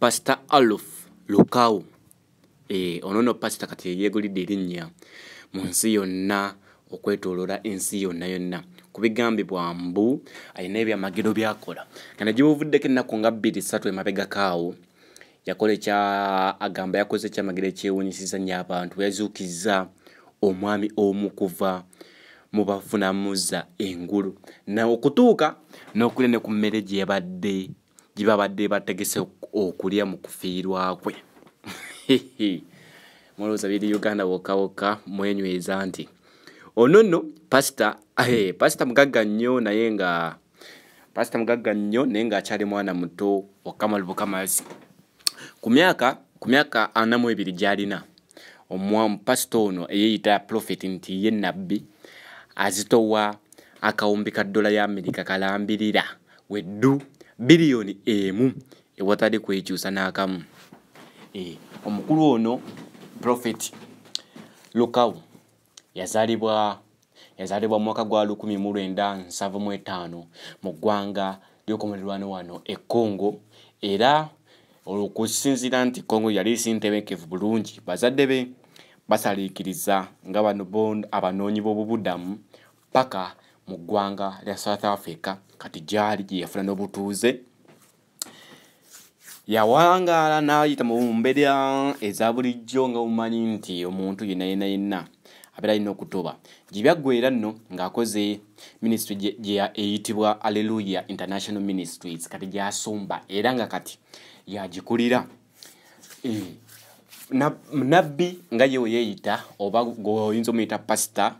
pasita aluf lukawu eh, ono no pasita kati yeyegulidde erinnya mu nsi yonna okwetolora ensi yonna yonna kubigambibwa mbu alina ebyamagero byakola kana gyebuvuddeko ennaku nga bbiri satu emabegakaawo yakola ekya agamba yakoze ekyamagero ekyewunyisiza nnyo abantu yazuukizza omwami omu kuva mu bafunamuza engulu naokutuuka n'okulya ne ku mmere gyebadde gyebabadde bategese okulya mu kufiirwa kwe mulowooza biri uganda wokka wokka mwenyweza nti ono nno pasita eh, pasita mugagga nnyo naye nga pasita mugagga nnyo naye ngaakyali mwana muto okukamalu bukamazi ku myaka ku myaka anamu ebiri gyalina omwamu pasita ono eyeyita profeti nti ye nabbi azitowa akawumbi ka ddola ya amerika kalambirira we ddu biliyoni emu ewatadde kwekyusa n'akamu eh, omukulu ono profeti lukawu yazalibwa yazalibwa mwaka gwa 1975 mu ggwanga lyokomulerwano wano e congo era olwokusinzira nti congo yali sintebekevu bulungi bazadde be basaliikiriza nga bano bon abanoonyi b'obubudamu paka mu ggwanga lya south africa kati gyali gye yafuna n'obutuuze yawangaala n'ayita mu mbeera eza bulijjo nga mumanyi nti omuntu yenna yenna yenna abeera alina okutoba gye byaggweera nno ng'akoze minisitry eyitibwa alleluya international ministries kati gyasumba era nga kati yagikulira eh, nabbi nga yewe yeeyita oba gweoyinza omuyita pasita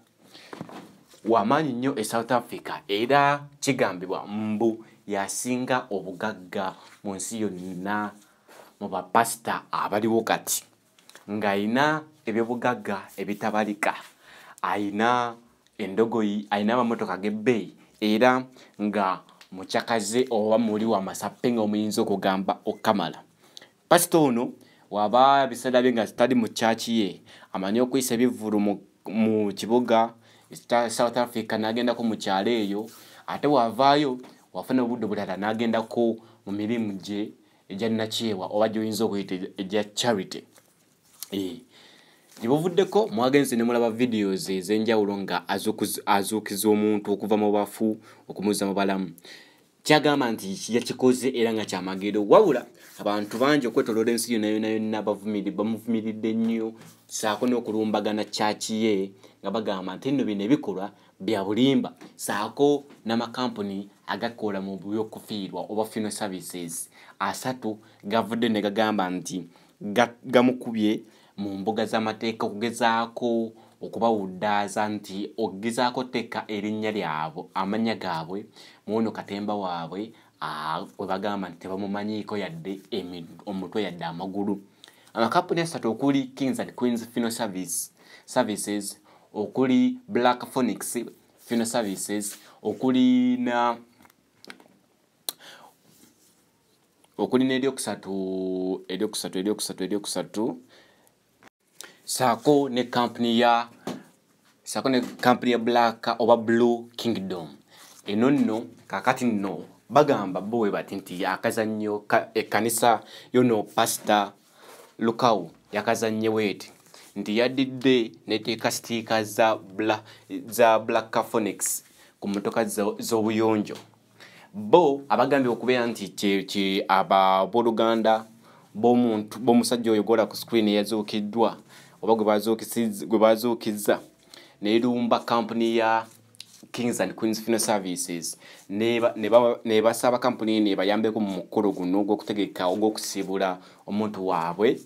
wamaanyi nnyo e south africa era kigambibwa mbu yasinga obugagga mu nsi yonna mu bapasita abaliwo kati ng'alina ebyobugagga ebitabalika alina endogoyi alina amamotoka g'ebbeeyi era nga mucakaze oba muli wamasappe nga omuyinza okugamba okukamala Pasita ono waba ebiseera bye nga zitali mu kyaki ye amanyi okuyisa ebivvulu mu kibuga south africa n'agendako mu kyalo eyo ate wavaayo wafuna obudde obulala n'agendako mu mirimu gye egya nakyewa oba gyoyinza okuyita egya charity eh, gyebuvuddeko mwagenze ne mulaba videos ez'enjawulo nga azuukiza omuntu okuva mu bafu okumuza mu balamu kyagamba nti yakikoze era nga kyamagero wabula abantu bangi okwetoloola ensi yona yona yonna bavumiri bamuvumiridde nnyo saako n'okulumbagana kyaki ye nga bagamba nti nno bino ebikolwa bya bulimba saako n'amakampuni agakola mu byokufiirwa oba funeral services asatu gavudde ne gagamba nti gamukubye mu mbuga z'amateeka okugezaako okubawuddaaza nti okugezaako tteeka erinnya lyabwe amannya gaabwe muwono katemba waabwe we bagamba nti tebamumanyiiko yadde omutwe yadde amagulu amakampuni asatu okuli kings and queens fino service services okuli black phonix fino services okuli na okuli n'eryokusatu eryokusatu eryokusatu eryokusatu saako ne kampuni ya saako ne kampuni ya black oba blue kingdom eno nno kakati nno bagamba bo we bati nti akazannyo ekkanisa yono pasita lukawu yakazannye weeti nti yadidde neteeka sitiika za black caphonics ku motoka z'obuyonjo bo abagambye okubeera nti kyeki ababoluganda bomuntu bomusajja oyo gola ku screen eyazuukiddwa oba gwe bazuukizza nerumba kampuni ya kings and queens funeral services nebasaba kampuni eno ebayambeko mu mukolo guno ogwokutegeka ogwokusibula omuntu waabwe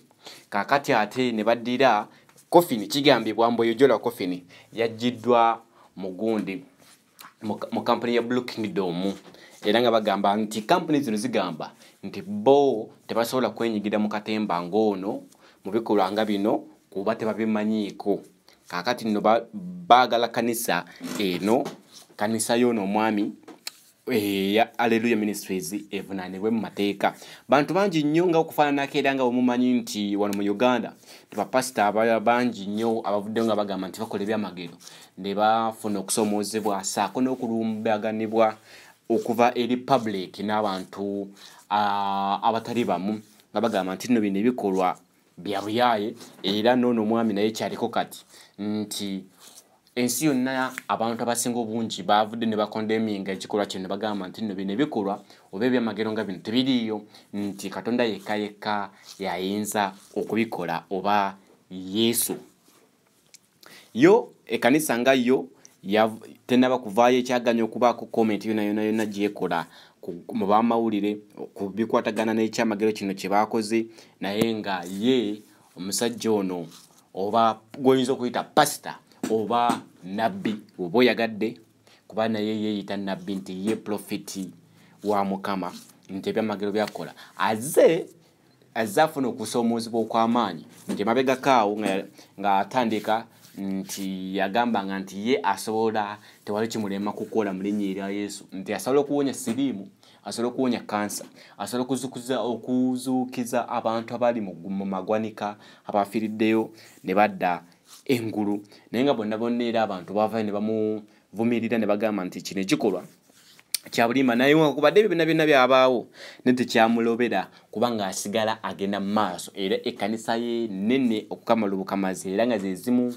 kakati ate ne baddira kofini kigambibwa mbu eyojola kofini yajjiddwa mugundi mu kampuni ya blue kingdom era nga bagamba nti kampuni zino zigamba nti bo tebasobola kwenyigira mu katemba ng'ono mu bikolwa nga bino kuba tebabimanyiiko kakati nno baagala kanisa eno kanisa yoono omwami eya eh, alleluya ministries evunaanibwe mu mateeka bantu bangi nnyo nga okufaananako era nga wemumanyi nti wano mu uganda tibapasita bangi nnyo abavuddeyo nga bagamba nti bakola ebyamagero ne bafuna okusoomoozebwa saako n'okulumbaganibwa okuva eri public n'abantu abatali bamu nga bagamba nti nno bino ebikolwa bya buyaaye era noono omwami naye kyaliko kati nti ensi yonna abantu abasinga obungi bavudde ne bakondeminga ekikolwa kino ne bagamba nti nno bino ebikolwa oba ebyamagero nga bino tebiriiyo nti katonda yekka yekka yayinza okubikola oba yesu yo ekanisa nga yo tenaba kuvaayo ekyaganya okubaako comment yona yona yona gyekola mu bamawulire ku bikwatagana n'ekyamagero kino kye baakoze naye nga ye omusajja ono oba gwoyinza okuyita pasita oba nabbi oba oyagadde kuba naye yeeyita nabbi nti ye profiti wa mukama nti ebyamagero byakukola aze azze afuna okusoomoozebwa okw'amaanyi nti emabegako awo ng'atandika nti yagambanga nti ye asobola tewali kimulema kukola mu linnya erya yesu nti asobola okuwonya siriimu asobola okuwonya kansa asobola okuzukuza okuzuukiza abantu abali mu magwanika abafiiriddeyo ne badda engulu naye nga bonna bonna era abantu bavayo ne bamu vumirira ne bagamba nti kino ekikolwa kyabulimba naye wakubadde ebyo byonna byonna byabaawo ne tekyamulobera kubanga asigala agenda mu maaso era ekkanisa ye nene okukamala obukamazi era nga zezimu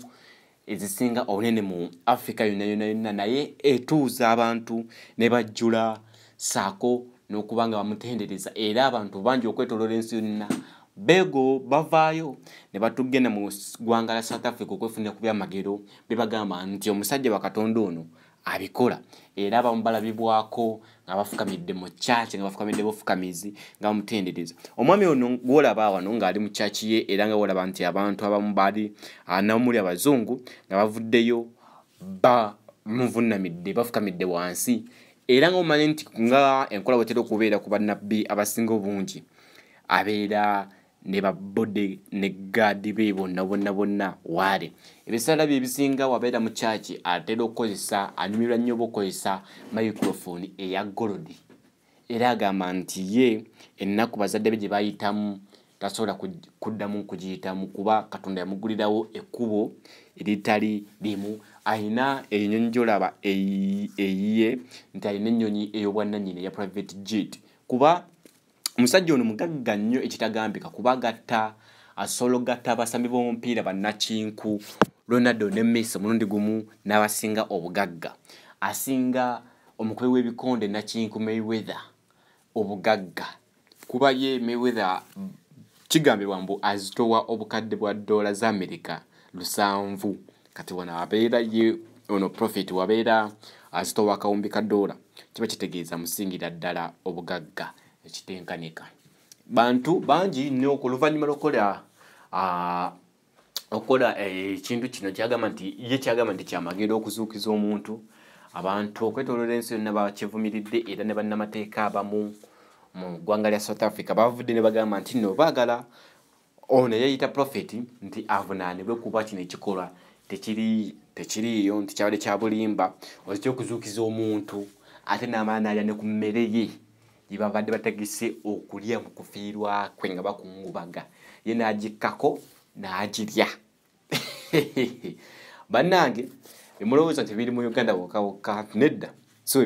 ezisinga obunene mu afrika yonna yonna yonna naye etuuza abantu ne bajjula saako n'okuba nga bamutendereza era abantu bangi okwetoloola ensi yonna bego bavaayo ne batugenda mu ggwanga la south africa okwefunira ku byamagero bebagamba nti omusajja wakatonda ono abikola era abamu balabibwako nga bafukamidde mu kyaki nga bafukamidde bufukamizi nga bamutendereza omwami ono gwolaba wano ng'ali mu kyaki ye era nga wolaba nti abantu abamu baali ah, namuli abazungu nga bavuddeyo bamuvunnamidde bafukamidde wansi era nga omanyi nti nga enkola bwetera okubeera ku bannabbi abasinga obungi abeera ne babbode ne gaadi be bonna bonna bonna waali ebiseera bye ebisinga wabeera mu kyaki atera okukozesa anyumirwa nnyo oba okukozesa microphone eya golodi era agamba nti ye ennaku bazadde be gye bayitamu tasobola kuddamu kugiyitamu kuba katonda yamugulirawo ekkubo eritali limu alina enyonyi gyolaba eyiye nti alina ennyonyi ey'obwannanyini eya private jet kuba omusajja ono mugagga nnyo ekitagambika kuba gatta asolo gatta abasambi b'omupiira bannakinku ronaldo ne messi omulundi gumu n'abasinga obugagga asinga omukubi w'ebikonde nakinku mayweather obugagga kuba ye mayweather kigambibwa mbu azitowa obukadde bwa ddoola za amerika lusanvu kati wano abeera ye ono profit wabeera azitowa akawumbi ka doola kiba kitegeeza musingira ddala obugagga ekitenkanika bantu bangi nnyo ku luvannyuma lwokukola ah, okukola eh, ekintu e, kino kyagamba nti ye kyagamba nti kyamagenda okuzuukiza omuntu abantu okwetoloola ensi yonna bakivumiridde era ne bannamateeka abamu mu ggwanga lya south africa bavudde ne bagamba nti no baagala ono eyeyita profeti nti avunaanibwe kuba kino ekikolwa tekiriiyo nti kyabadde kya bulimba oekyokuzuukiza omuntu ate n'amala naalya ne ku mmere ye gye babadde bategese okulya mu kufiirwa kwe nga bakungubaga ye n'agikkako n'agirya bannange emulowooza nti biri mu uganda wokawokka nedda so